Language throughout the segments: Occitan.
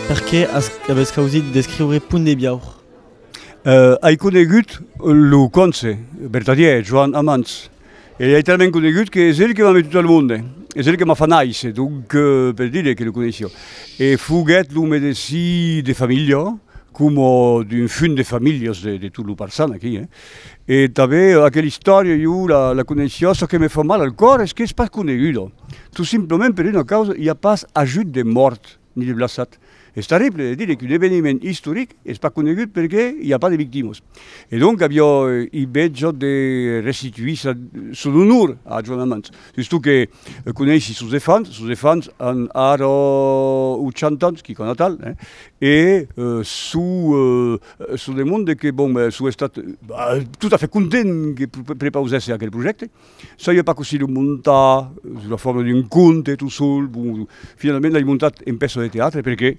Per qué avètz causit d'escriure Punt de Biaur? Ai conegut lo conse vertadièr Joan Amans. E ei talament conegut que es el que m'a metut al monde, es el que m'a fa nàisser, donc per dire que lo coneissi jo. E foguèt lo medesí de familha, coma d'un funt de familhas de de tot lo Parçan aquí, eh. E tanben aquela istòria jo la la coneissia, çò que me fa mal al còr es qu'es pas coneguda, tot simplament per una causa, i a pas ajut de mòrt. ni de Blassat. Es terrible de dire qu'un eveniment istoric es pas conegut perque i a pas de victimas. E donc aviá i beja de restituir sa, son onor a Joan Amans. Sustot que coneissi sos efants, sos efants an ara 80 ans, quicòna atal, hein, e su, su demonde que, bon, su estat, bah, tot a fait content que prepausèsse aquel projècte. Saieu pas cossí lo montar sus la forma d'un conte tot sol, bon, finalament l'ai montat en pèça de teatre perqué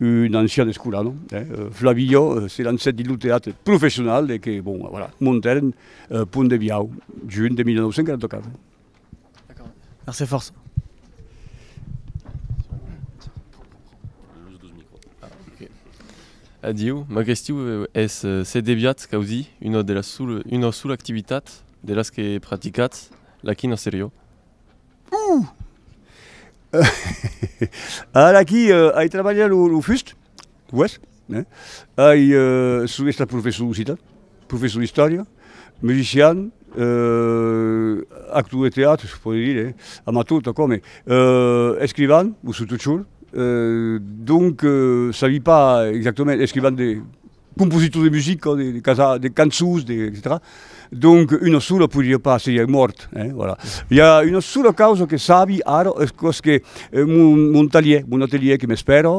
un ancian escolano, Flavillo, se lancèt dins lo teatre professional e que, bon, voilà, montèren Pont de Biau, junh de 1944. D'accord, merci fòrça. Adieu, m'agressiu es se deviatz causir una sola activitat De las que praticatz la quina serió? Uuh! A la qui ai trabalhat lo fust, uèi, eh? Ai, son estat professor d'occitan, professor d'istòria, musician, actor de teatre, se pòdi dire, amator, tot aquò, mai escrivan, o subtot chor, donc, sabi pas exactament, escrivan de Compositor de musica, de, de casar, de cançons, de, etc. Donc, una sola podria pas, seriá mòrt, hein, voilà. Hi a una sola causa que sabi ara, es cos que eh, mon, mon talier, mon atelier que m'espèra,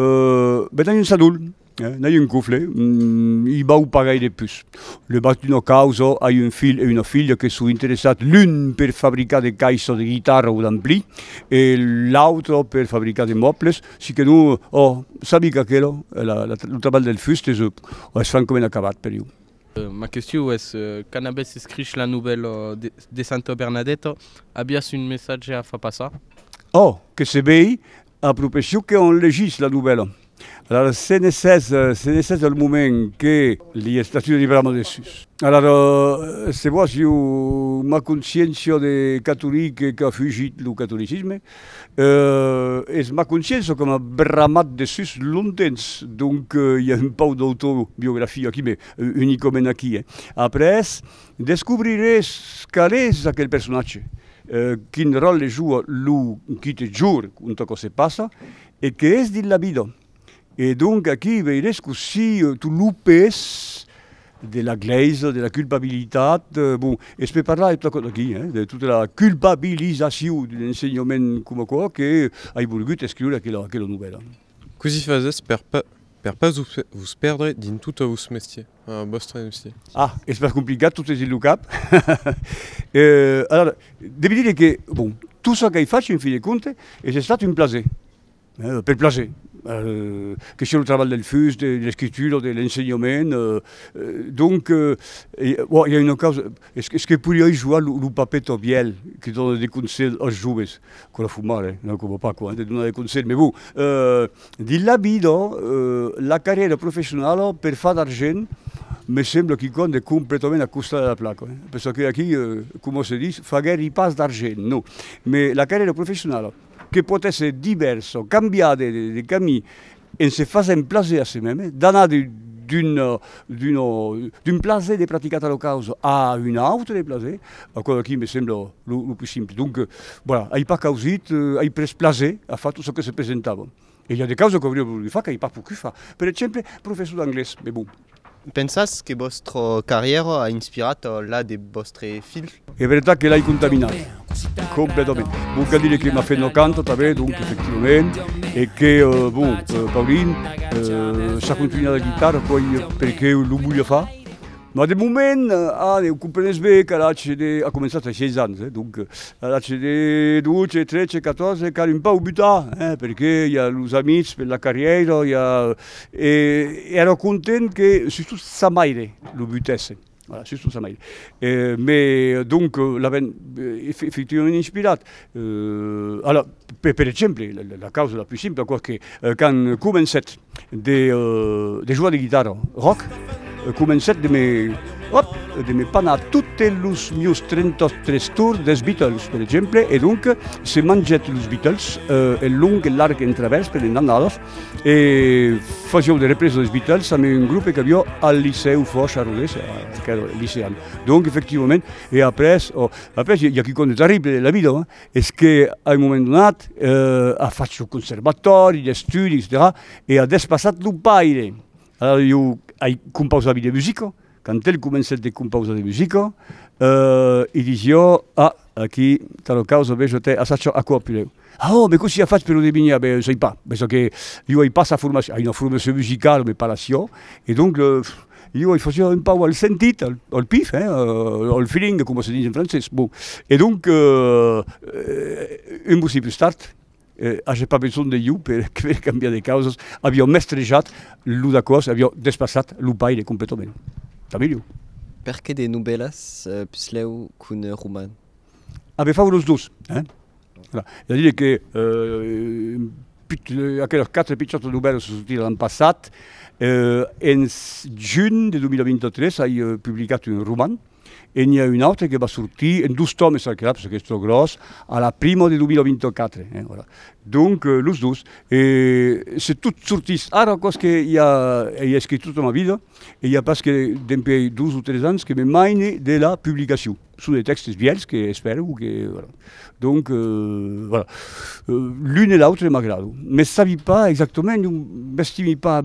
euh, ben n'ai un sadol, hein, n'ai un cofle, mm, i vau pas gaire de pus. Le bas d'una causa, ai un filh e una filha que son interessats l'un per fabricar de caissas de guitarra o d'ampli, e l'autre per fabricar de mòbles, Si que non, ò, sabi qu'aquela, lo trabalh del fust es, ò, es francament acabat per iu. Ma question es, quand avètz escrich la novèla de Santa Bernadeta, aviatz un messatge a far passar? Ò, que se vei, a propesso que òm legís la novèla. Alara, se ne sètz, se ne sètz al moment que li estatu de liberar me de sus. Alara, se vòs, iu m'aconsciéncio de catolic qu'a fugit lo catolicisme, Es ma consciéncia que m'a bramat de sus long temps, donc i a un pauc d'autobiografia aquí, mais unicament aquí. Après, descobriré qual es aquel personatge, quin ròtle joua lo quite jorn, conta quò se passa e qué es dins la vida. E donc aquí veires cossí tu lupes de la glèisa, de la culpabilitat, bon, e se pe parlar de tota aquò d'aquí, hein, de tota la culpabilizacion d'un ensenhament coma aquò que ai volgut escriure aquela, aquela novèla. Cossí fasètz per pas, per pas vos perdre dins tota vos mestier, a vòstre mestier? Ah, es pas complicat, tot es dins lo cap. Alara, devi dire que, bon, tot çò qu'ai fach, en fin de compte, es estat un plaser. Pel plaser. Que siá lo trabalh del fus, de l'escritura o de l'ensenhament. Donc, bon, i a una causa, es que podiái jogar lo papèr tò vièlh que dona de conselhs als joves, quò de fumar, eh, non coma Paco, eh, de donar de conselhs, me bon, dins la vida, la carrièra professionala per far d'argent me sembla quicòm de completament a costa de la placa, perçò que aquí, coma se ditz, faguèri pas d'argent, non, me la carrièra professionala, Que pòt èsser divèrsa, cambiada de camin, en se fasent plaser a se mème, d'anar d'un plaser de praticar tal o caus a un autre de plaser, aquò aquí me sembla lo pus simple. Donc, voilà, ai pas causit, ai pres plaser a far tot çò que se presentava. E i a de causes qu'auria volgut far qu'ai pas pogut far. Per exemple, professor d'anglés, mai bon. Pensatz que vòstra carrièra a inspirat la de vòstre filh? Es veritat que l'ai contaminat, completament. Bon, cal dire que m'a fait una canta tanben, donc efectivament, e que, bon, Paulin, s'a contunhat la guitarra coi perqué lo voliá far. Mas de moment, ah, ne comprenes be qu'ar atge de, a començat a seis ans, eh, donc, ar atge de dotze, tretze, catòrze, cal un pauc butar, eh, perque i a los amics per la carrièira, i a, e èra content que sustot sa maire lo butessen, voilà, sustot sa maire, e, me, donc, l'avèn efectivament inspirat, eh, ala, per exemple, la causa la plus simple, aquò que, quand comencèt, de jogar de guitarra rock, comencèt de me, òp, de me panar totes los mius 33 tours dels Beatles, per exemple, e donc se mangèt los Beatles en long, en larg, en travèrs, per un an half, e fasiáu de represa dels Beatles amb un grupe qu'aviá al licèu Fòrch a Rodés, qu'èra licean. Donc, efectivament, e après, òp, après i a quicòm de terrible de la vida, Es que, a un moment donat, a fach su conservatòri d'estudi, etcetèra, e a despassat lo paire. Alara jo ai compausavi de musica, quand el comencèt de compausar de musica, i disi jo, ah, aquí talo causa, ve jo te assacha aquò apulèu. Ah oh, me cossí a fach per lo devinhar? Ben, sai pas, pensa que jo ai pas sa formacion, ai una formacion musicala, me parassi jo, e donc, Iu i fasiá un pauc al sentit, al pif, hein, al feeling, coma se ditz en francés. Bon, e donc, un bocí pus tard, aja pas besonh de iu per per cambiar de causas, aviá mestrejat lo d'aquò's, aviá despassat lo baile completament. Tà melhor. Perqué de novèlas puslèu qu'un roman? A be fau los dos, hein. È a dire que aqueles quatre pichòts novèls se sortiràn l'an passat. En junh de 2023 ai publicat un roman e n'i a un autre que va sortir en dos tòmes aquela, perque qu'es tròp gròs, a la prima de 2024. Donc, los dos. E se tot sortís ara, aquò's que i a, i a escrich tota ma vida e i a pas que dempuèi dos o tres ans que me maine de la publicacion. Son de tèxtes vièlhs que espèro que voilà. Donc voilà, l'un e l'autre m'agrado. Mès sabi pas exactament, non m'estimi pas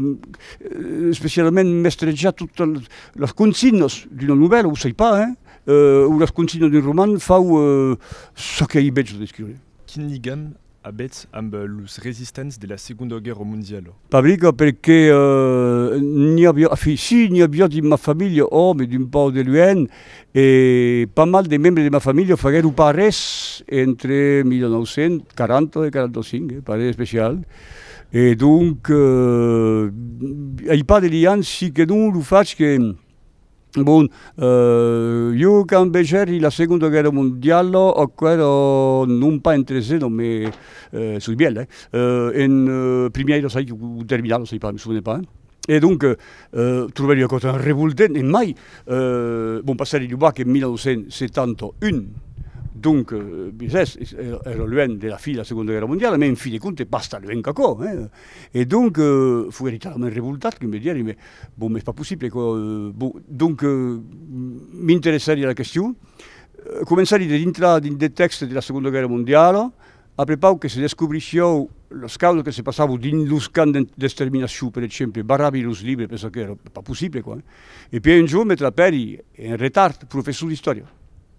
especialament mestrejar totas las consignas d'una novèla, o sai pas, hein, o las consignas d'un roman, fau çò qu'ei bèth jo d'escriure. Quin ligam avètz amb los resistents de la Segonda Guèrra Mondiala? Pabriga, Perqué n'i aviá, enfin, si, n'i aviá dins ma familha, òme, d'un pauc de luènh, e pas mal de membres de ma familha faguèron parés entre 1940 e 45, eh, pas res d'especial. E donc, ai pas de liam, si que non lo fach que, Bon, jo quand vegèri la Segonda Guèrra Mondiala, aquera non pas en tresena, me soi bièlh, eh? en primièira sai, o terminala sai pas, me sovene pas, e donc trobèri ua causa revoltent, e mai, bon, passèri lo bac en 1971, donc bisés, èra luènh de la fin de la Segonda Guèrra Mondiala, me en fin de compte pas tan luènh qu'aquò, eh? E donc, fui radicalament revoltat, que me dierri, mais bon, m'es pas possible, aquò, bon, donc, m'interessari a la question, començari de dintrar dins de tèxtes de la Segonda Guèrra Mondiala, après pauc que se descobrissiáu las causas que se passavon dins los camps d'exterminacion, per exemple, barravi los libres, pensa qu'èra pas possible, aquò, hein. E pièi un jorn me trapèri en retard, professor d'istòria.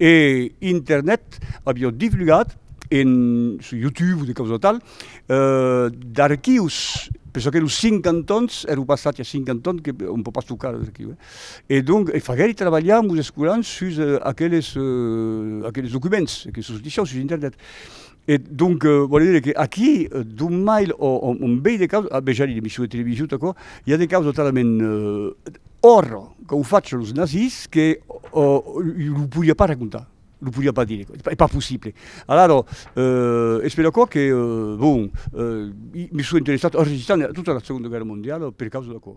E internet aviá divulgat en, sus YouTube o de causa tal, d'archius, per çò qu'èro cinc antons, èro pas sat ja cinc antons que on pòt pas tocar los archius, eh. E donc e faguèri trabalhar mos escolans sus aqueles, aqueles documents que sos disián sus internet. E donc vòle dire que aquí, d'un mail o un bèi de caus, a bejar era emission de television, tot aquò, i a de caus totalament òrro qu'au fach los nazis que lo podia pas racontar, lo podia pas dire, es pas possible. Alaro, es per aquò que, bon, me soi interessat a resistant a tota la Segonda Guèrra Mondiala per causa d'aquò.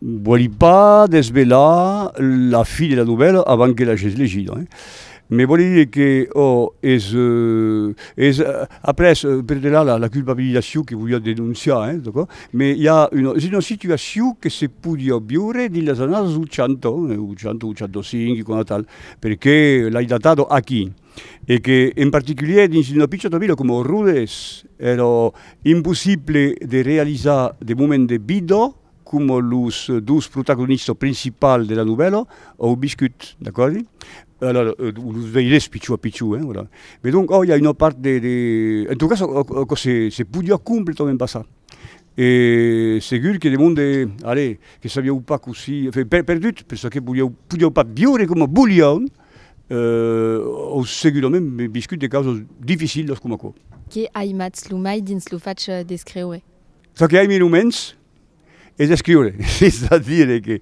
Vòli pas desvelar la fi de la novèla avant que l'agètz legida, me vòli dire que ò es es après per de la la culpabilizacion que voliá denonciar eh d'acò, me i a una es una situacion que se podiá viure dins las annadas 80 80 85 e quant tal perqué l'ai datat aquí e que en particulier dins una picciota vila coma Rodes èra impossible de realizar de moment de vida com los dos protagonistas principals de la novèla au viscut, d'acòrdi? Alors, los veires pichon a pichon, hein, voilà. Mais donc, oh, il y a une part de, de... En tout cas, aquò se, se podiá completament passar. E segur que de monde, allez, que sabiáu pas cossí, enfin, per, perdut, per çò que voliáu, podiáu pas viure coma voliáum, euh, au segurament viscut de causas dificilas coma aquò. Qué aimatz lo mai dins lo fach d'escreure? Çò que aimi lo mens es escriure, es a dire que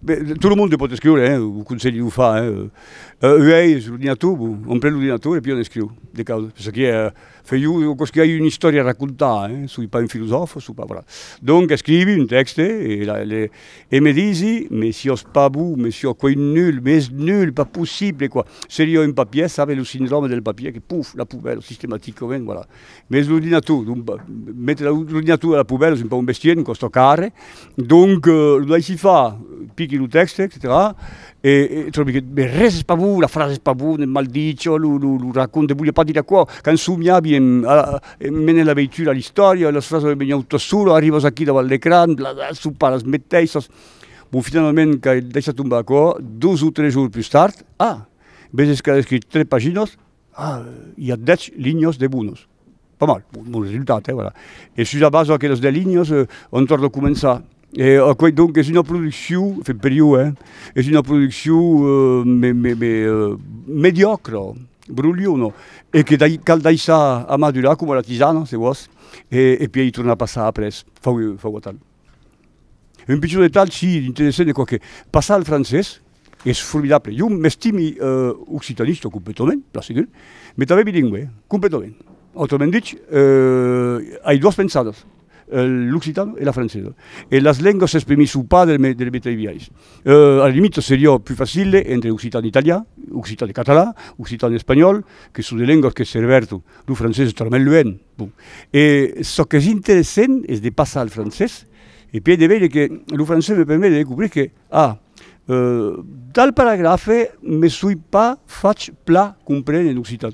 tot lo monde pòt escriure, eh, vos conselhi de lo far, eh, uèi sul ordinator, bon, on pren l'ordinator e pui on escriu de causas, per çò qui eh, fai jo aquò's qui ai una istòria a racontar, eh, soi pas un filosòfa, soi pas, voilà. Donc escrivi un tèxte e la le e me disi, me siós pas bon, me siós quai nul, m'es nul, pas possible, quoi. Seria un papier, save lo sindròme del papier que, puf, la poubèla, sistematicament, voilà. Mes lo dinator, mètre lo dinator a la poubèla es un pauc un bestièr, un còsta car, donc lo daissi far, pichi lo tèxte, etcetèra, e tròbi que mai res es pas bon, la frasa es pas bona, es mal dicha, lo lo lo racònte vòlia pas dire aquò, quand somiavi en a mene la veitura a l'istòria, las frasas venián totas solas, arrivas aquí davant l'ecran, bladar, sopar las meteissas, bon finalament qu'ai daissat tombar aquò, dos o tres jorns pus tard, ah! Veses qu'ai escrit tres paginas, I a dètz linhas de bonas. Pas mal, bon resultat, eh, voilà. E sus la basa d'aquelas dètz linhas, òm torna a començar. E aquò, donc, es una produccion, enfin, per jo, eh, es una produccion me, me, me, mediòcra, brolhona, e que dai, cal daissar amadurar coma la tisana, se vòs, e, e pièi tornar a passar après, fau, fau atal. Un pichon detalh, si, interessant, quoique, passar al francés, es formidable. Jo m'estimi euh, occitanista completament, plan segur, mais tanben bilingüe, completament. Autrament dich, euh, ai doas pensadas, l'occitan e la francesa. E las lengas s'exprimís o pas de le de le meteis biais. Euh, a la limita seriá plus facile entre occitan e italian, occitan e catalan, occitan e espanhòl, que son de lengas que servèrtu, lo francés es talament luènh, Bon. E çò qu'es interessent es de passar al francés e pièi de veire que lo francés me permet de descobrir que, ah, tal paragrafe me soi pas fach plan comprene en occitan.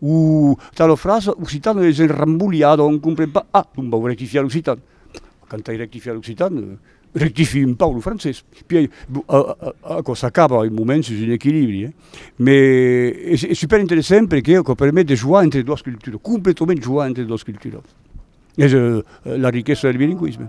O tala frasa occitan es enrambolhada, on comprend pas. Ah, donc vau rectifiar l'occitan. Quand ai rectifiat l'occitan, Rectific un pauc lo francés, puèi aquò s'acaba un moment sus un equilibri, mais es super interessant perque aquò permet de jogar entre doas culturas, completament jogar entre doas culturas, es la riquesa del bilingüisme.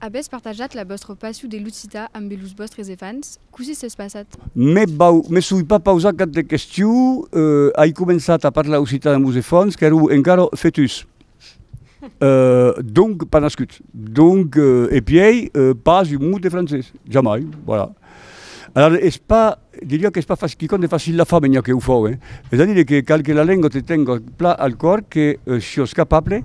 Avètz partajat la vòstra passion de l'occitan ambe los vòstres efants? Cossí s'es passat? Me soi pas pausat cap de question, ai començat a parlar occitan amb los efants qu'èron encara fetus, donc pas nascuts, donc e pièi pas un mot de francés, jamai, voilà. Alara es pas, diria qu'es pas quicòm de facil, la familha que o fau, es a dire que cal que la lenga te tenga plan al còr, que siás capable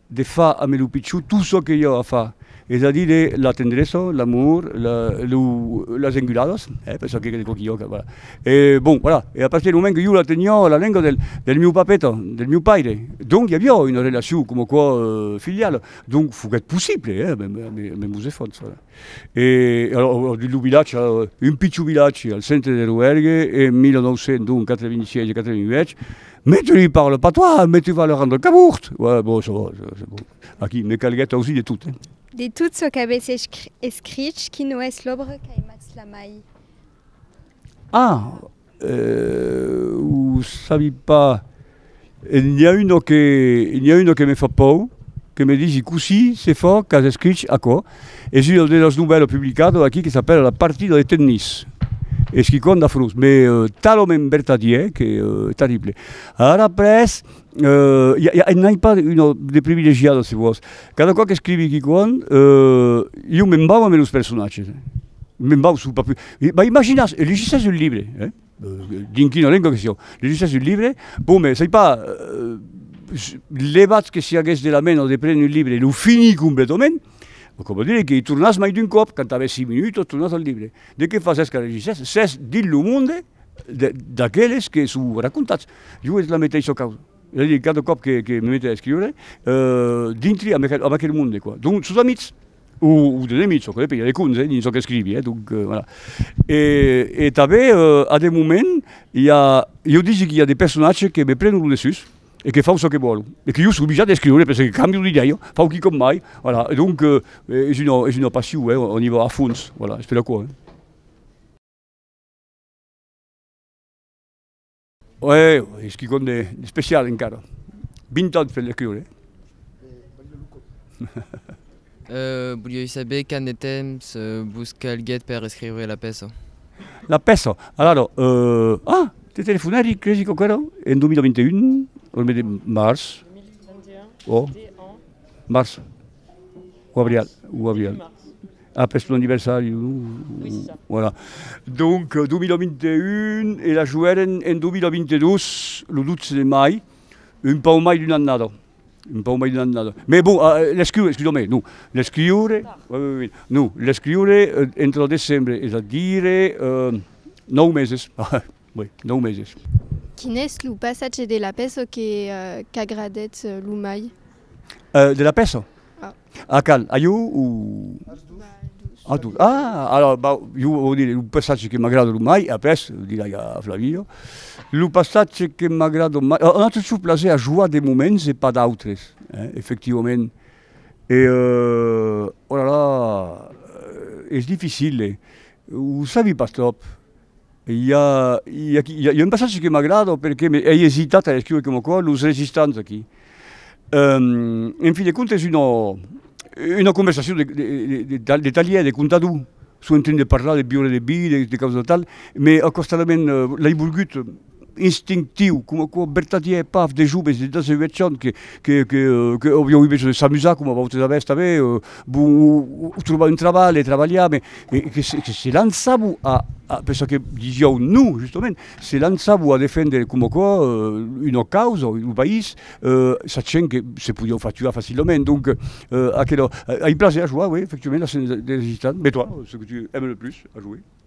de far ambe lo pichon tot çò que jo a far, es a dire de la tendresa, l'amor, la lo las enguladas, eh, per çò que de quauqui òca, voilà. E bon, voilà, e a partir dau moment que jo la teniá la lenga del del miu papeta, del miu paire, donc i aviá una relacion coma quò filiala, donc foguèt possible, eh, ambe ambe mos esfòrç, voilà. E alors dins lo vilatge, un pichon vilatge al centre de Roergue en 1986 e 88, Mais tu lui parles pas toi, mais tu vas le rendre cabourt! Ouais, bon, ça va, c'est bon. Aquí me calguèt ausi de tot, eh? De tot çò qu'avètz escrich, quina es l'òbra qu'aimatz la mai? Ah! Ho sabi pas. N'i a una que me fa pòur, que me disi, cossí se fa qu'as escrich aquò? Es una de las novèlas publicadas aquí que s'apèla La partida de tennis, esquicon d'afrós, mai talament vertadièr que terrible. Ara après, euh, ja, ja, n'ai pas una de privilegiada, se vòs. Cada còp qu'escrivi quicon, euh, jo me'n vau ambe los personatges. Me'n vau, su pas pu... M'imaginas, e legissas un libre, eh? Dins quina lenga que siá. Legisser un libre, bon me soi pas levat que si aguest de la men o de prene un libre e lo finir completament, aquò vòl dire que i tornàs mai d'un còp, quand avèssi minuit tot tornàs al libre. De qué fasèsca de legisser? S'es dins lo monde d'aqueles que son racontats. Jo es la meteissa causa. Ela di, cada còp que me mete a escriure, dintri amb aquel monde, quoi. Donc, sos amics, o de nemics, çò que depende, i a de contes, eh, dins çò qu'escrivi, eh. Donc, voilà. E tanben, a de moments, i a, jo disi qu'i a de personatges que me prenon lo dessús e que fau çò que vòlu, e que jo soi oblijat d'escriure, perque cambio d'idei, fau quicòm mai, voilà. E donc, es una, es una passion, eh, on i va a fons, voilà, es per aquò, eh. Uèi, es quicòm d'especial encara. Vint ans per l'escriure, eh? Voliái saber quand de temps vos calguèt per escriure la pèça? La pèça? Alara, ah! Te telefonèri, cresi quauquarra, en 2021, lo mes de març. 2021, o març o abrial, o abrial. Ah, pes lo anniversari, non? Oui, c'est ça. Voilà. Donc, 2021, e la joguèren en 2022, lo 12 de mai, un pauc mai d'una annada. Un pauc mai d'una annada. Mais bon, eh, l'escriure, excuseu-me, non, l'escriure, oui, oui, oui, non, l'escriure entre lo decembre, es a dire, eh, nòu meses, oui, nòu meses. Quin es lo passatge de la pèça que qu'agradètz lo mai? Eh, de la pèça? Ah. A cal? A jo o? As dos. A dos. Ah, alors, bah, jo vau dire, lo passatge que m'agrada lo mai, après, dirai a Flavinho, lo passatge que m'agrada mai, un autre chose plaser a joar de moments e pas d'autres, hein, effectivament, e, oh là là, es difficile, o sabi pas tròp, I a, i a, i a un passatge que m'agrada perque ei esitat a escriure coma quò, los resistants aquí. Ehm, en fin de comptes, una, una conversacion de, de, de, de, de talièr, de contador, son en train de parlar, de biure de vi, de, de causa tal, me acostadament, l'ai volgut, instinctiu, coma aquò vertadièr e paf de joves de 18 ans que que que que avián besonh de s'amusar coma vautres avètz tanben o trobar un trabalh e trabalhar me e que que se lançavan a a per çò que disiáu non justament se lançavan a defendre coma aquò una causa o un país sachent que se podiáu far tuar facilament donc aquela ai plaser a joar oui effectivament la scène des gitanes mais toi ce que tu aimes le plus à jouer?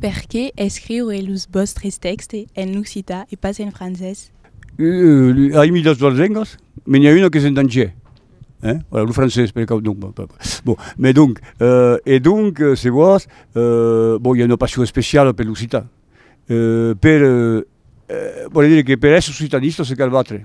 Perqué escriure los vòstres tèxte en occitan e pas en francés? Aimi las doas lengas, me n'i a una qu'es en dangèr, hein? Voilà, lo francés per cau non, bon, mais donc, e donc se vòs, bon, i a una passion especiala per l'occitan, per, vòle dire que per èsser occitanista se cal batre.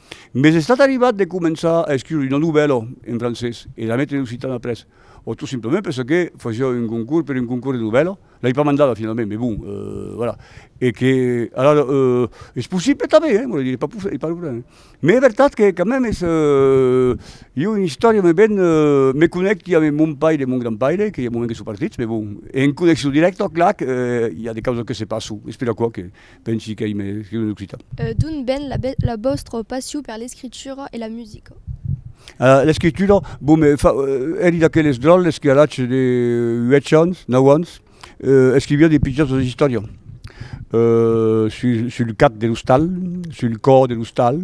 M'es estat arribat de començar a escriure una novèla en francés e la metre en occitan après, o tot simplement per çò que fasiá un concours per un concours de novèla, l'ai pas mandada finalament, mais bon, voilà, e que alara es possible tanben, eh, vòle dire, pas pas un problème. Mais es vertat que quand même es, jo una istòria me ven, me connècti ath mon paire e mon grand paire, que i a un moment que son partits, mais bon, en connexion dirècta, clac, i a de causas que se passon, es per aquò que. Pensi qu'ei mai escriu en occitan. D'ont ven la vòstra passion per l'escritura e la musica? L'escritura, bon, me fa, èri d'aqueles dròlles que a l'atge de uèch ans, nau ans, escriviá de pichasas istòrias sul cap de l'ostal, sul còr de l'ostal,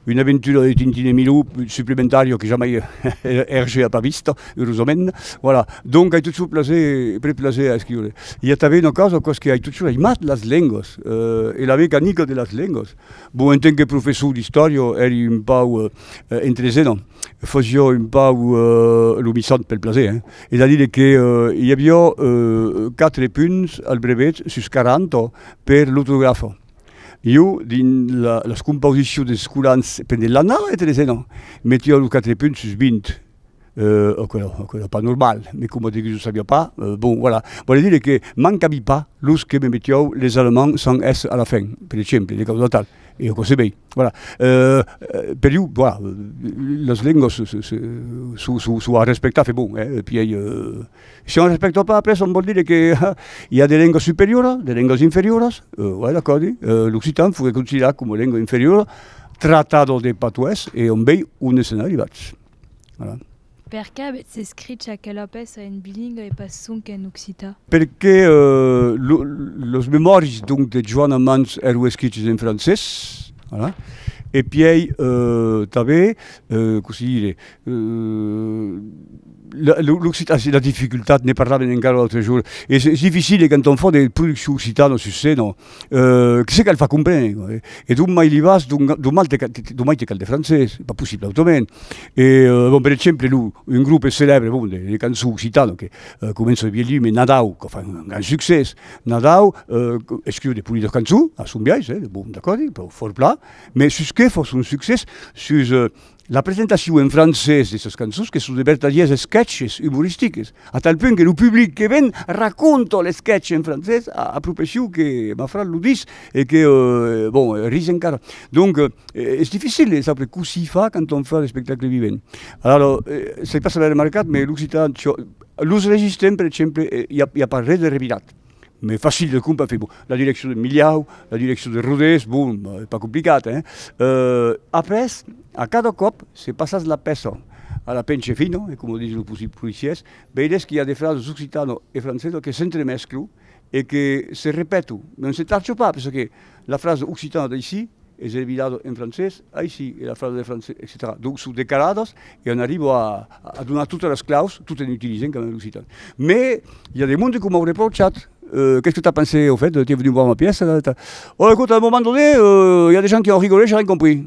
Una aventura de Tintin e Milou suplementaria que jamai Hergé a pas vista, eurosament. Voilà, donc ai totjorn plaser, près plaser a escriure. I a tanben una causa, qu'aus que ai totjorn aimat las lengas e la mecanica de las lengas. Bon, en tant que professor d'istòria èri un pauc entresenha, fasia un pauc lo missant pel plaser, hein. Es a dire que i aviá quatre punts al brevet sus quaranta per l'ortografa. Jo, dins las compausicions des scolans pendent l'annada de tresena, metia lo quatre punt sus vint. Aquela, aquela pas normal, me coma diguis o sabia pas, bon, voilà. Vòle dire que m'an cabit pas los que me metiáu les alemands sans s a la fin, per exemple, de causa tal, e aquò se vei. Voilà. Per jo, voilà, las lengas se, se, se, s'o, s'o, s'o a respectar, fe bon, eh, pièi, eh. Si on respècta pas après çò vòl dire que i a de lengas superioras, de lengas inferioras, uèi d'acòrdi, l'occitan foguèt considerat coma lenga inferiora, tratado de patois e on vei on èsson arribats. Voilà. Per qué avètz escrich aquela pèça en bilingue e pas sonque en occitan? Perqué los memòris donc de Joana Mans èron escriches en francés, voilà, e pièi tanben, cossí dire, L'occitan, la difficultat, ne parlaven encara l'autre jour, es difficile de quand on fa de produccion occitana sus scèna, que se cal far comprene, e d'on mai li vas, d'on mai te cal de francés, pas possible autrament, e bon per exemple lo un groupe celèbre bon de cançons occitanes que començo a vier lu, me Nadau, que fan un grand succès, Nadau escriu de polidors cançons a son biais, bon d'acòrdi, fòrt plan, me sus qué fò son succès, sus La presentacion en francés de sas cançons que son de vertadiers esquèches umoristiques, a tal punt que lo public que ven raconta l'esquèch en francés a a profession que ma frà lo dis e que, bon, ris encara. Donc, es dificil de saber cossí far quand on fa l'espectacle vivent. Alara, se pas avè remarcat, me l'occitan, los registres, per exemple, i a pas res de revirat. mais facile de compra fait bon la direction de Milhau la direction de Rodés bon euh, pas complicat hein euh, après a cada còp se passas la pèça a la penche fina e coma dison los policiers veiretz que i a de frases occitano e francesa que s'entremesclo e que se repeto non se tarcho pas perçò que La frasa occitana d'aicí es revirada en francés aicí e la frasa de francés, etcetèra. Donc son decaladas e an arribo a a donar totas las claus tot en utilizent quand même l'occitan. Mais i a de monde que m'au reprochat, euh qu'es que t'as pensé au fait, t'es venu voir ma pièce, ta ta. Ò, écoute, à un moment donné, euh, i a de gens qui en rigolent, j'ai rien compris.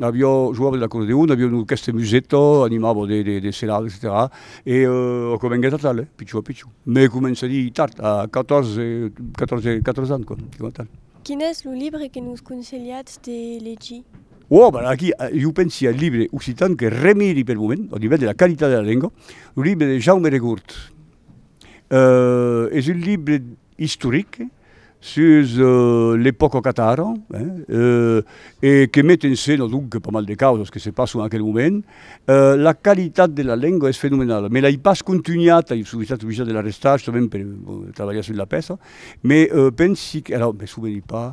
Aviá joava de l'acordeon, aviá un orquèstre de museta, animava de serada, etcetèra. E aquò venguèt atal, eh, pichon a pichon. Mei començadi tard, a catòrze, catòrze, catòrze ans, quoi, coma tal. Quin es lo libre que nos conselhatz de legir? Ò, ben aquí, jo pensi al libre occitan que remiri pel moment, au nivèl de la qualitat de la lenga, lo libre de Jaume Regort. Es un libre istoric. sus l'epòca au Qatar e que met en scèna donc pas mal de causas que se passon en aquel moment. La qualitat de la lenga es fenomenala, me l'ai pas contunhat, ai sovent estat oblijat de la restar justament per trabalhar sus la pèça, me pensi que, ara me soveni pas,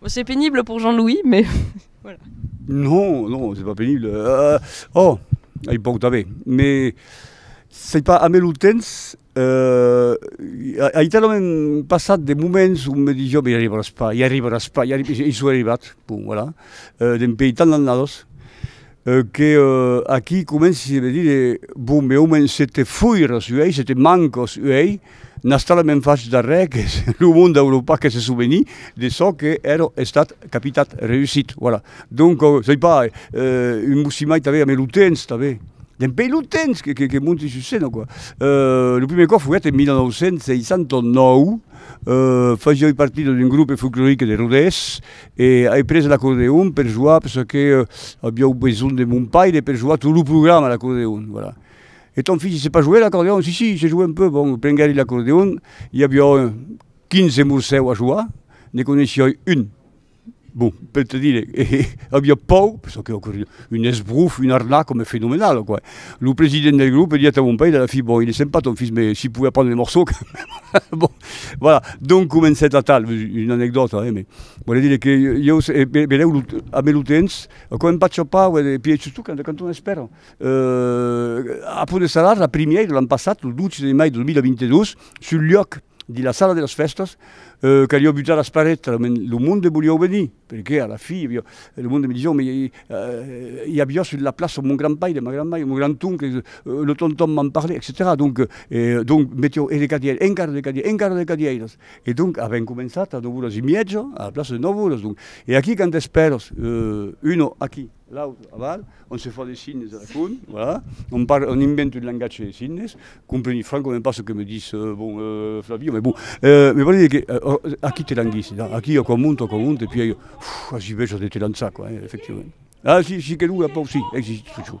Bon, c'est pénible pour Jean-Louis, mais voilà. Non, non, c'est pas pénible. Euh, oh, ai poc d'avè, mais c'est pas amé lo temps. Euh, ai talament passat de moments où me dis, jo, mais i arribaràs pas, i arribaràs pas, i, arrib i soi arribat, bon, voilà. Euh, dempèi tant d'annadas. Que aquí comenci se vedir de bon me omen se te foiras uei, se te mancos uei, n'astala me'n fach d'arrè que es lo monde d'Europa que se soveni de çò que ero estat capitat, reusit, voilà. Donc sai pas, un mossimai tanben ame lo temps tanben, dempei lo temps que que monti sus scena quoi. Lo prumèr còp foguèt en 1969, fasioi partida d'un groupe folclorique de Rodés, E ai pres l'acordeon per joar perçò que aviáu besonh de mon paire per joar tot lo programa l'acordeon, voilà. E ton fils, il sait pas jouer l'acordeon? Si, si, il sait jouer un peu. Bon, prenguèri l'acordeon, i aviáu 15 morsèu a joar, ne coneishioi un, bon, per te dire, e aviá pòur, perçò que l'acordeon, un esbrof, un arnac, ome fenomenal, quoi. Lo president del grup diat a mon paire a la fin, bon, il est sympa ton fils, mais s'il pouvait apprendre le morceau quand même, bon. Voilà, donc comencèt atal, una anecdòta eh, mais vòle dire que ieu se, be, belèu lo, a me lo temps, quand em patge pas, vòle dire, pièch sustot quand, quand on espèra, a Pont de Salard, la primièira, l'an passat, lo 12 de mai 2022, sul luòc de la sala de las fèstas, qu'aviá butar las parets, lo monde voliá venir, Perqué a la fi, lo monde me dison, mais i a viò sus la plaça mon grand paire, ma grand maire, mon grand oncle, lo tonton m'en parle, etcetèra. Donc, donc metió e de cadièr, encara de cadièr, encara de cadièras. E donc avèm començat a 9 oras e mièja a la plaça de 9 oras. Donc, e aquí quand espèras uno aquí? L'aut aval, ont se fan de signes a la con, voilà, on parle, on invente un langatge de signes, compreni francament pas ce que me dis, euh, bon, euh, Flavio, mais bon, euh, me vòli dire que, euh, aquí te languissi, là, aquí o quan monto, o quan monte, puis, uh, aciu, veja de te lançar, quoi, eh, efectivament. Ah, si, si, que longa, pòu, si, existe toujours.